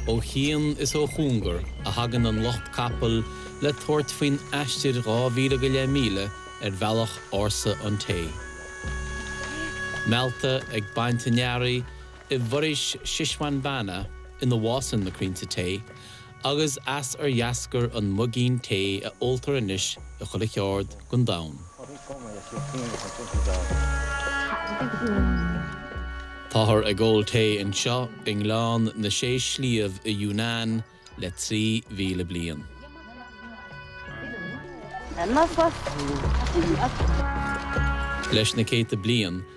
Ó chian is ó chúngar a thagann an lucht capaill le tabhairt faoin aistir dhá mhíle míle ar bhealach ársa an tae. Meallta ag baint a n-earraí i bhForaois Shishwanbhana ina bhfásann na crainnte tae, agus as ar dheascair an muigín tae a óltar anois i chuile cheárd gon domhan. Táthar ag ól tae anseo i nGleann na Sé Sliabh i Yunnan le trí mhíle bliain. Leis na céadta bliain,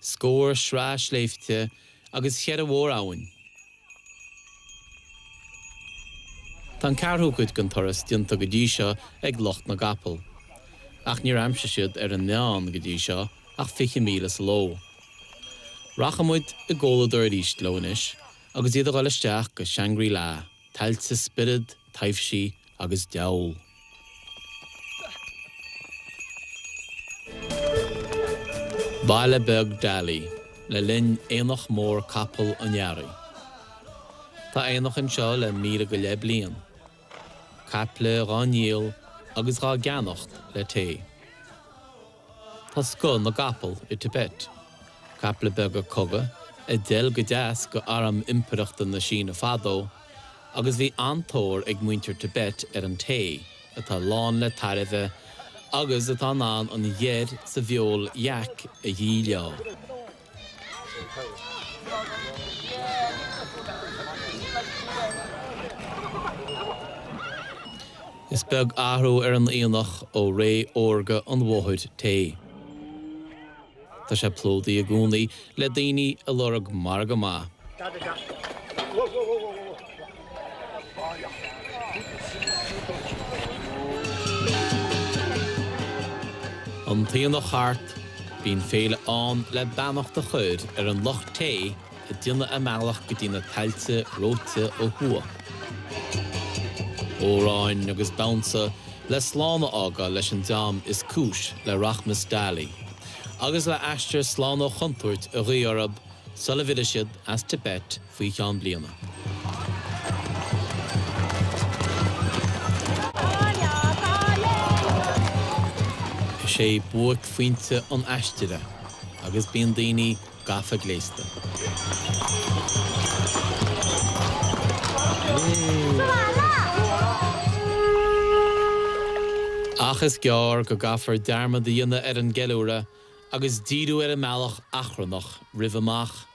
scór sraith sléibhte agus cheithre mhór-abhainn. Tá an ceathrú cuid den turas déanta go dtí seo ag lucht na gcapall, ach níor aimsigh siad ar a ndéanamh go dtí seo ach fiche míle sa ló. Rachaidh muid i gcomhluadar arís leo anois agus iad a dhul isteach go Shangri-La, tailte spiorad, taibhsí agus diabhal. Baile beag Dali le linn Aonach Mór Capall an Earraigh. Tá aonach anseo le míle go leith bliain. Caiple dhá ndíol agus dhá gceannacht le tae. Tá scoth na gcapall i Tibet. Caiple beaga cogaidh, a d'fheil go deas d'arm impireachta na Síne fadó, agus bhí an-tóir ag muintir Tibet ar an tae, atá lán le tairbhe agus atá in ann an gheir sa bhfeoil yak a dhíleá. Is beag athrú ar an aonach ó ré órga an bhóthair tae. Tá sé plódaithe i gcónaí le daoine a lorg margadh maith. An t-aonach thart, bíonn féile ann le beannacht a chur ar an lucht tae ag déanamh a mbealach go dtí na tailte reoite ó thuaidh. Amhráin agus damhsa le slán a fhágáil leis an dream is cúis le rachmas Dali, agus le aistear slán ó chontúirt a ghuí orthu sula bhfillfidh siad as Tibet, faoi cheann bliana. Is é buaicphointe an aistir é agus bíonn daoine gafa gléasta. Ach is gearr go gcaithfear dearmad a dhéanamh ar an gceiliúradh agus díriú ar an mbealach achrannach roimh amach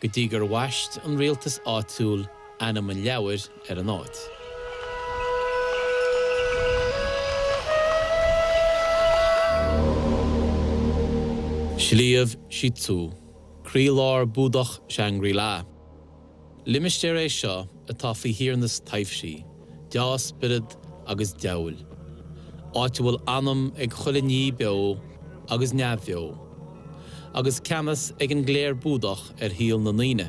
go dtí gur bhaist an rialtas áitiúil ainm an leabhair ar an áit. Sliabh Shi Tzu, croílár Búdach Shangri-La. Limistéar é seo atá faoi thiarnas taibhsí. dea-spioraid agus deabhail, áit a bhfuil anam ag chuile ní beo agus neamhbheo, agus ceannas ag an gcléir Búdach ar shaol na ndaoine.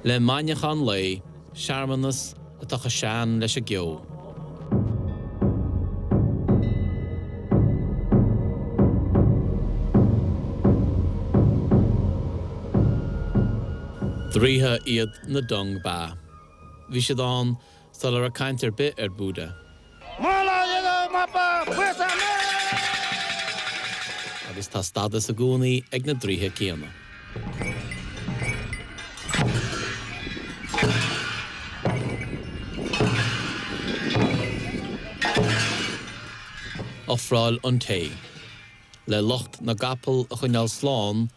Le maidneachan lae. searmanas atá chomh sean leis an gceo. Draoithe iad na Dong Ba. Bhí siad ann sula raibh caint ar bith ar Búda. Agus tá stádas i gcónaí ag na draoithe céanna. Ofráil an tae. Le lucht na gcapall a choinneáil slán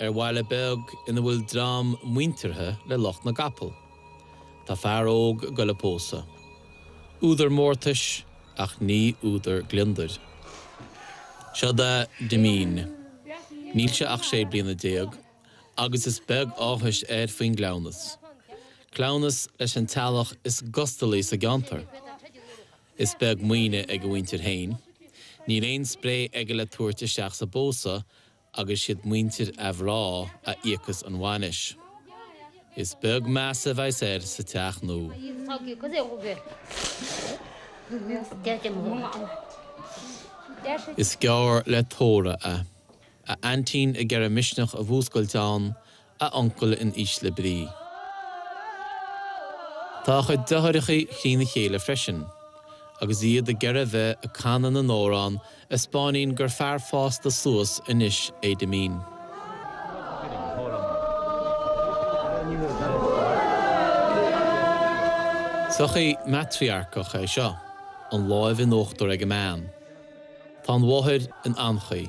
ar bhaile beag ina bhfuil dream muinteartha le lucht na gcapall. Tá fear óg ag goil ag pósadh. Údar mórtais, ach ní údar gliondair. Seod é Dimín. Níl sé ach sé bliana déag agus is beag áthais air faoin gcleamhnas. Cleamhnas leis an teaghlach is gustalaí sa gceantar. Is beag maoine ag a mhuintir féin. Níl aon spré aige le tabhairt isteach sa bpósadh agus siad muintir a mhná a íocas an bhainis. Is beag meas a bheidhs air sa teach nua. Is geall le tórramh é. A aintín ag iarraidh misneach a mhúscailt ann a uncail in ísle brí. Tá a chuid deartháireacha thrína chéile freisin, agus iad ag iarraidh bheith ag canadh na n-amhrán a 'speáiníonn gur fear fásta suas anois é Damien. Sochaí maitriarcach é seo, an láimh in uachtar ag an mbean. Tá an mháthair in anchaoi.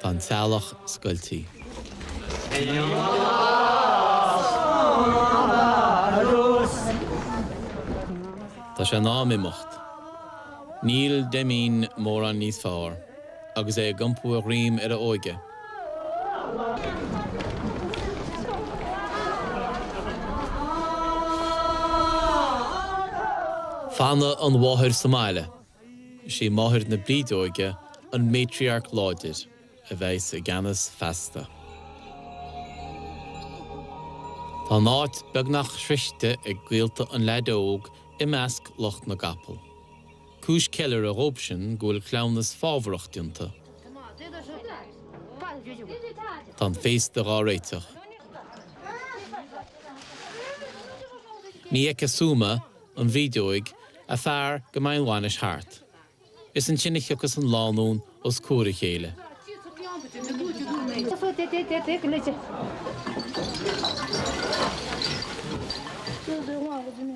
Tá an teaghlach scoiltí. Tá sé in am imeacht. Níl Damien mórán níos fearr agus é ag iompú a dhroim ar a óige. Fanann an mháthair sa mbaile. Is í máthair na brídeoige an matriarch láidir a bheas i gceannas feasta. Tá an áit beagnach sroichte ag gaolta an leaid óg i measc lucht na gcapall. Cúis ceiliúrtha dhóibhsean go bhfuil cleamhnas fabhrach déanta. Tá an féasta dhá réiteach. Ní fheicfidh Souma an bhrídeoig, a fear go mbeidh an bhainis thart. Is ansin a thiocfas an lánúin os comhair a chéile.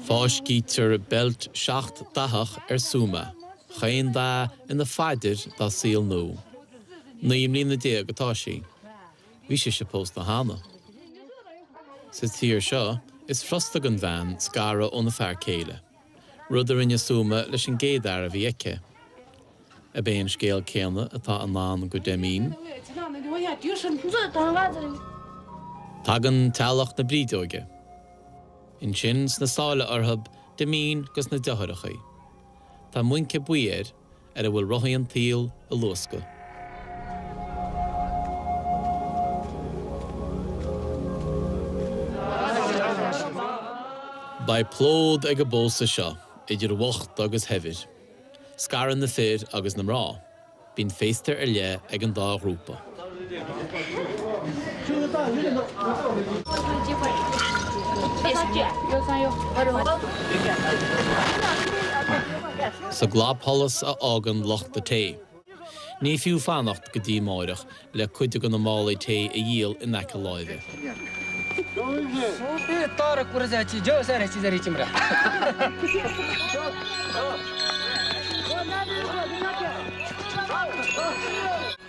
Fáiscítear beilt seacht dathach ar Souma, chaon dath ina phaidir dá saol nua. Naoi mbliana déag atá sí. Bhí sise pósta cheana. Sa tír seo, is furasta don bhean scaradh óna fear céile, rud a rinne Souma leis an gcéad fhear a bhí aici. Ab é an scéal céanna atá i ndán do Damien? Tagann teaghlach na brídeoige. Ansin, sna sála orthub, Damien, agus na deartháireachaí. Tá muince buí air. ar a bhfuil rothaí an tsaoil ag luascadh. Beidh plód ag an bpósadh seo, idir bhocht agus shaibhir. Scarann na fir agus na mná. Bíonn féasta ar leith ag an dá ghrúpa. Sa gclapsholas a fhágann lucht an tae, ní fiú fanacht go dtí amáireach le cuid de na málaí tae a dhíol in aice láimhe.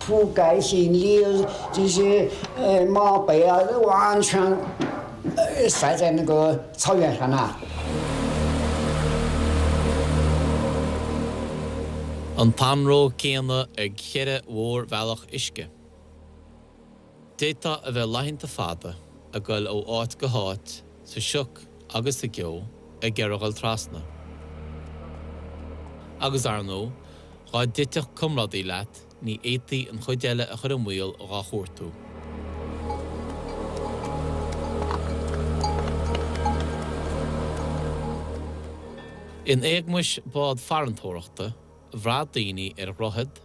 Tugadh faoin riail de réir mapaí a bhain seanstaideanna go soiléir amach. An t-anró céanna ag cheithre mhórbhealach uisce. D'fhéadfadh a bheith laethanta fada ag gabháil ó áit go háit sa sioc agus sa gceo ag gearradh trasna. Agus, ar ndóigh, dhá dtitfeadh comrádaí leat ní fhéadfaí an chuid eile a chur i mbaol dhá chuartú. In éagmais bád farantóireachta, bhraith daoine ar dhroichead,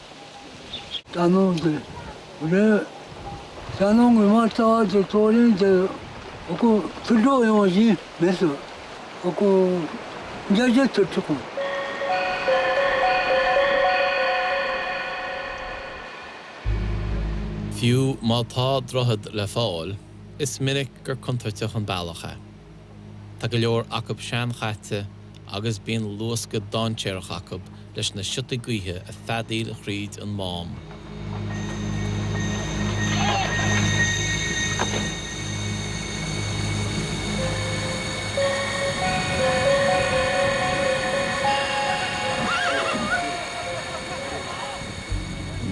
D'ainneoin go d'ainneoin go mbeadh táilte comhroinnte acu tar éis an mhí mhíosa acu de gheit ar tugadh. Fiú má tá droichead le fáil, is minic gur contúirteach an bealach é. Tá go leor acu seanchaite agus bíonn luascadh dainséarach acu leis na siotaí gaoithe ag feadaíl thríd an mám.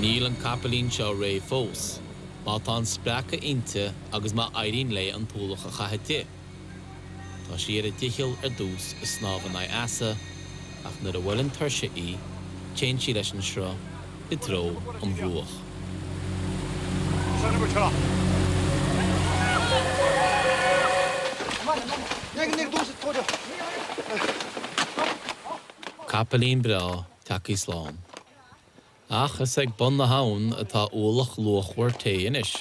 Níl an capaillín seo réidh fós. Má tá an spreacadh inti agus má éiríonn léi an t-ualach a chaitheamh di, tá sí ar a dícheall ar dtús ag snámh in aghaidh easa ach nuair a bhuaileann tuirse í, téann sí leis an sruth i dtreo an bhruach. Capaillín breá, teacht slán. Ach is ag bun na habhann atá ualach luachmhar tae anois.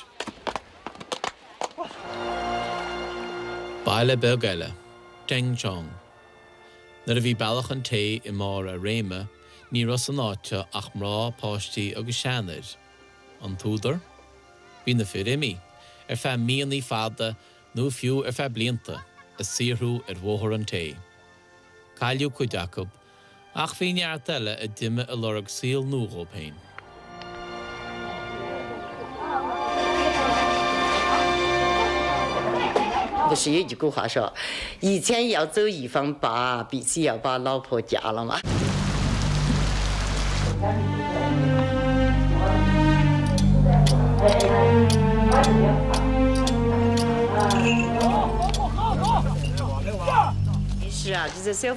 Baile beag eile, Dengchong. Nuair a bhí bealach an tae i mbarr a réime, ní raibh san áit seo ach mná, páistí agus seanfhir. An t-údar? Bhí na fir imithe, ar feadh míonna fada nó fiú ar feadh blianta, ag saothrú ar bhóthar an tae. Cailleadh cuid acu Ach bhí neart eile a d'imigh ag lorg saol nua dhóibh féin. Bhí sí ag gabhadh as seo. Dhí téann í as do dhíobh an ba bhí sí a ba lá fó deal amach. Is ráidhte do saol